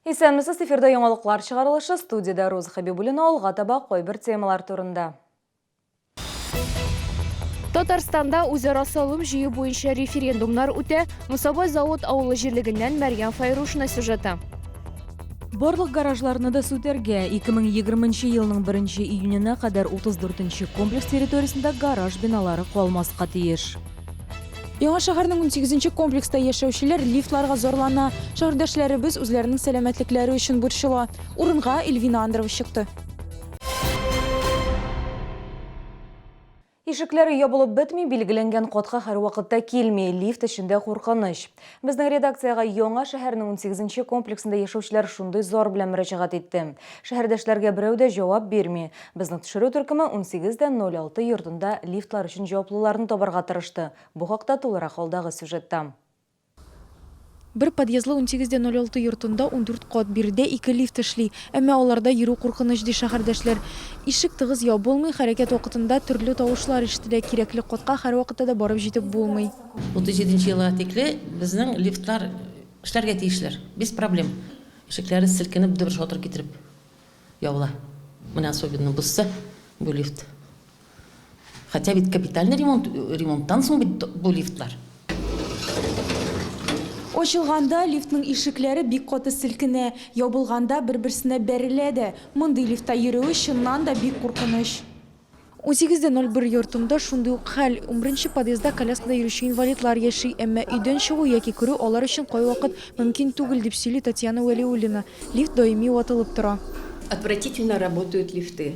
Исәнмесез, эфирда яңалыклар чыгарылышы студиядә Роза Хәбибуллина алга таба кайбер темалар турында. Татарстанда үзара салым җыю буенча референдумнар үтә, Мусабай завод авылы җирлегеннән Мәрьям Файрушина сюжеты. Барлык гаражларны да сүтәргә, 2020 елның 1 июненә кадәр 34 комплекс территориясендә гараж биналары калмаска тиеш. Яңа шәһәрнең 18 комплекста яшәүчеләр лифтларга зарлана. Шәһәрдәшләребез үзләренең сәламәтлекләре өчен борчыла. Урынга Эльвина Андрова чыкты. Ишекләре ябылып бетми, билгеләнгән катка һәрвакытта килми, лифт эчендә куркыныч. Безнең редакциягә Яңа шәһәрнең унсигезенче комплексында яшәүчеләр шундый зар белән мөрәҗәгать итте. Шәһәрдәшләргә берәү дә җавап бирми. Безнең төшерү төркеме унсигез дә ноль алты йортында лифтлар өчен җаваплыларны табарга тырышты. Бу хакта тулырак алдагы сюжетта. Бер подъездлы унсигез дә ноль алты йортында ундүрт кат, биредә ике лифт эшли, әмма аларда йөрү куркыныч, ди шәһәрдәшләр. Ишек тыгыз ябылмый, хәрәкәт вакытында төрле тавышлар ишетелә, кирәкле катка һәрвакытта да барып җитеп булмый. 37 нче елга тикле безнең лифтлар эшләргә тиешләр, без проблем. Ишекләре селкенеп, дөбер-шатыр китереп ябыла. Менә особенно бозса бу лифт, Хотя бит капитальный ремонт, ремонттан соң бит бу лифтлар. Ачылганда лифтның ишекләре бик каты селкенә, ябылганда бер-берсенә бәрелә дә. Мондый лифтта йөрүе чыннан да бик куркыныч. Унсигез дә ноль бер йортында шундый ук хәл. Унберенче подъездда коляскада йөрүче инвалидлар яши, әмма өйдән чыгу яки керү алар өчен кайвакыт мөмкин түгел, дип сөйли Татьяна Вәлиуллина. Лифт даими ватылып тора. Отвратительно работают лифты.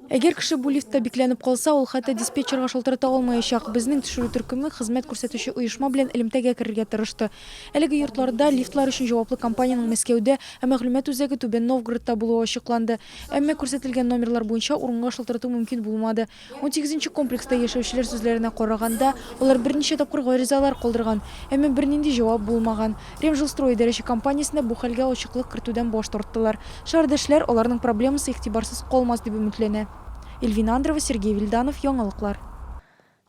Әгәр кеше бу лифтта бикләнеп калса, ул хәтта диспетчерга шалтырата алмаячак. Безнең төшерү төркеме хезмәт күрсәтүче оешма белән элемтәгә керергә тырышты. Әлеге йортларда лифтлар өчен җаваплы компаниянең Мәскәүдә, ә мәгълүмат үзәге Түбән Новгородта булуы ачыкланды. Әмма күрсәтелгән номерлар буенча урынга шалтырату мөмкин булмады. Унсигезенче комплекста яшәүчеләр сүзләренә караганда, алар берничә тапкыр гаризалар калдырган, әмма бернинди җавап булмаган. Ремжилстрой идарәче компаниясендә бу хәлгә ачыклык кертүдән баш тарттылар. Шәһәрдәшләр, аларның проблемасы игътибарсыз калмас дип өметләнә. Эльвина Андрова, Сергей Вильданов, Яңалыклар.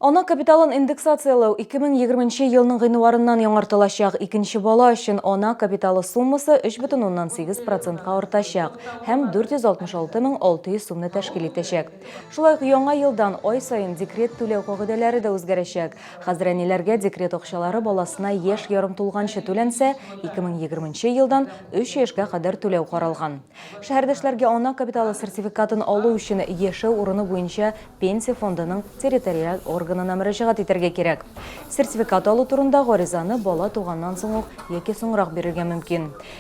Ана капиталын индексацияләү 2020 нче елның гыйнварыннан яңартылачак. Икенче бала өчен ана капиталы суммасы 3,8 процентка артачак һәм 466 мең 600 сумны тәшкил итәчәк. Шулай ук яңа елдан ай саен декрет түләү кагыйдәләре дә үзгәрәчәк. Хәзер әниләргә декрет акчалары баласына яшь ярым тулганчы түләнсә, 2020 елдан 3 яшькә кадәр түләү каралган. Шәһәрдәшләргә ана капиталы сертификатын алу өчен яшәү урыны буенча Пенсия фондының территориаль органына мөрәҗәгать итәргә кирәк. Сертификат алу турында гаризаны бала туганнан соң ук яки соңрак бирергә мөмкин.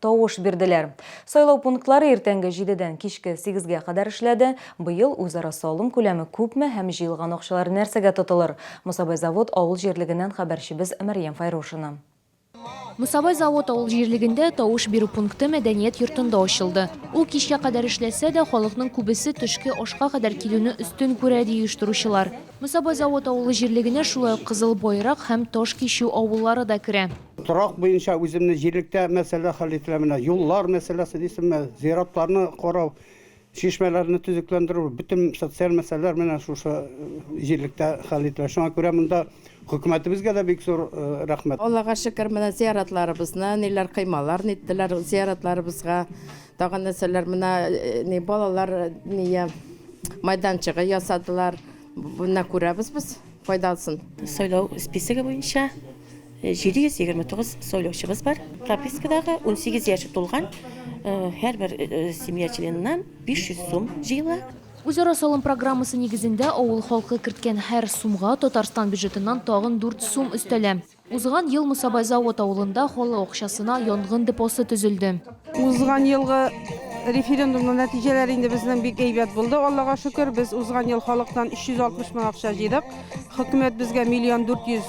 тавыш бирделәр. Сайлау пунктлары иртәнге җидедән кичке сигезгә кадәр эшләде. Быел үзара салым күләме күпме һәм җыелган акчалар нәрсәгә тотылыр? Мосабай Завод авыл җирлегеннән хәбәрчебез Мәрьям Файрушина. Мосабай Завод авыл җирлегендә тавыш бирү пункты мәдәният йортында ачылды. Ул кичкә кадәр эшләсә дә, халыкның күбесе төшке ашка кадәр килүне өстен күрә, ди оештыручылар. Мосабай Завод авылы җирлегенә шулай ук Кызыл Байрак һәм Таш Кичү авыллары да керә. Торак буенча үземне җирлектә мәсьәлә хәл ителә, менә юллар мәсьәләсе дисеңме, зиратларны карау, чишмәләрне төзекләндерү, бөтен социаль мәсьәләләр менә шушы җирлектә хәл ителә. Шуңа күрә монда хөкүмәтебезгә дә бик зур рәхмәт. Аллага шөкер, менә зияратларыбызны ниләр кыймалар ниттеләр, зияратларыбызга тагын нәрсәләр, менә балалар майданчыгы ясадылар. Менә күрәбез без файдасын. Сайлау списогы буенча 729 сайлаучыбыз бар. Пропискадагы 18 яше тулган һәрбер семья членыннан 500 сум җыела. Үзара салым программасы нигезендә авыл халкы керткән һәр сумга Татарстан бюджетыннан тагын 4 сум өстәлә. Узган ел Мусабайзавод авылында халык акчасына янгын депосы төзелде. Узган елгы референдумның нәтиҗәләре инде безнең бик әйбәт булды, Аллага шөкер. Без узган ел халыктан 360 мең акча җыйдык. Хөкүмәт безгә миллион 400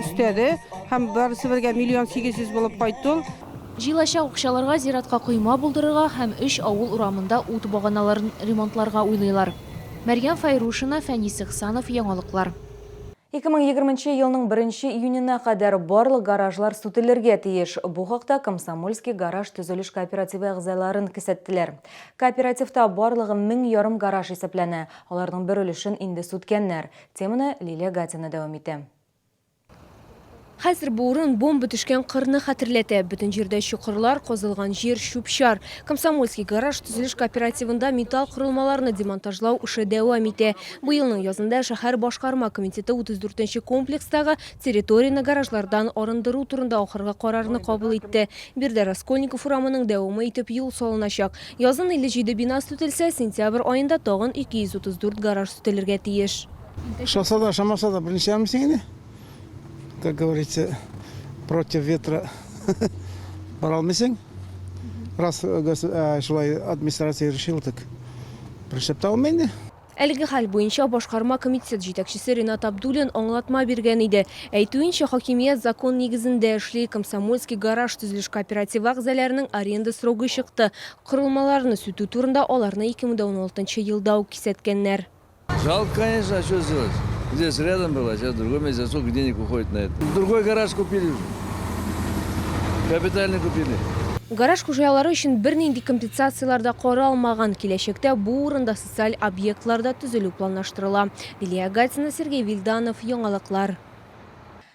өстәде һәм барысы бергә миллион 800 булып кайтты ул. Җыелачак акчаларга зиратка койма булдырырга һәм өч авыл урамында ут баганаларын ремонтларга уйлыйлар. Мәрьям Фәйрушина, Фәнис Ихсанов, Яңалыклар. Ике мең егерменче елның беренче июненә кадәр барлык гаражлар сүтелергә тиеш. Бу хакта Комсомольский гараж төзелеш кооперативы әгъзаларын кесәттеләр. Кооперативта барлыгы мең ярым гараж исәпләнә, аларның бер өлешен инде сүткәннәр. Теманы Лилия Гатина дәвам итә. Хәзер бу урын бомба төшкән кырны хәтерләтә. Бөтен җирдә чокырлар, казылган җир, чүп-чар. Комсомольский гараж төзелеш кооперативында металл корылмаларны демонтажлау эше дәвам итә. Бу елның язында шәһәр башкарма комитеты 34 нче комплекстагы территорияне гаражлардан арындыру турында ахыргы карарны кабул итте. Биредә Раскольников урамының дәвамы итеп юл салыначак. Язын 57 бина сүтелсә, сентябрь аенда тагын 234 гараж сүтелергә тиеш. Ошаса да, ошамаса да, берничә ял мин сиңа инде? как говорится, против ветра бара алмыйсың. Раз э, шулай администрация решил, так пришлеп та алмый инде. Әлеге хәл буенча башкарма комитет җитәкчесе Ренат Абдулин аңлатма биргән иде. Әйтүенчә, хакимият закон нигезендә эшли, комсомольский гараж төзелеш кооперативы әгъзаларының аренда срогы чыкты. Корылмаларны сүтү турында аларны 2016 елда ук кисәткәннәр. Жалко, конечно, а что сделать? Здесь рядом было, а сейчас другое место. Сколько денег уходит на это? Другой гараж купили уже. Капитально купили. Гараж хуҗалары өчен бернинди компенсацияләр дә каралмаган. Киләчәктә бу урында социаль объектлар да төзелү планлаштырыла. Лилия Гатина, Сергей Вильданов, Яңалыклар.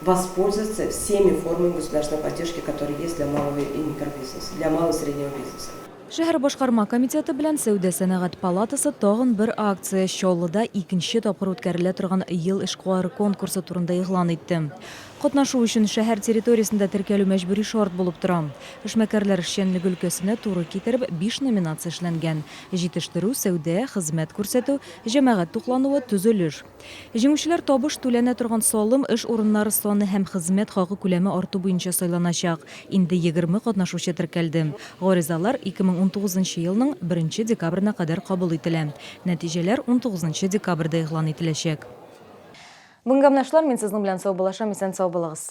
воспользоваться всеми формами государственной поддержки, которые есть для малого и микробизнеса, для малого и среднего бизнеса. Шәһәр башкарма комитеты белән Сәүдә-сәнәгать палатасы тагын бер акция, Чаллыда икенче тапкыр үткәрелә торган Ел эшкуары конкурсы турында игълан итте. Катнашу өчен шәһәр территориясендә теркәлү мәҗбүри шарт булып тора. Эшмәкәрләр эшчәнлеге өлкәсенә туры китереп, биш номинация эшләнгән, җитештерү, сәүдә, хезмәт күрсәтү, җәмәгать туклануы, төзелеш. Җиңүчеләр табыш түләнә торган салым, эш урыннары саны һәм хезмәт хакы күләме арту буенча сайланачак. Инде егерме катнашучы теркәлде. Гаризалар 2019 нчы елның беренче декабрена кадәр кабул ителә. Нәтиҗәләр унтугыз нчы декабрьдә игълан ителәчәк. Бүген гәмнәшләр, мин сезнең белән саубуллашам, исән-сау булыгыз!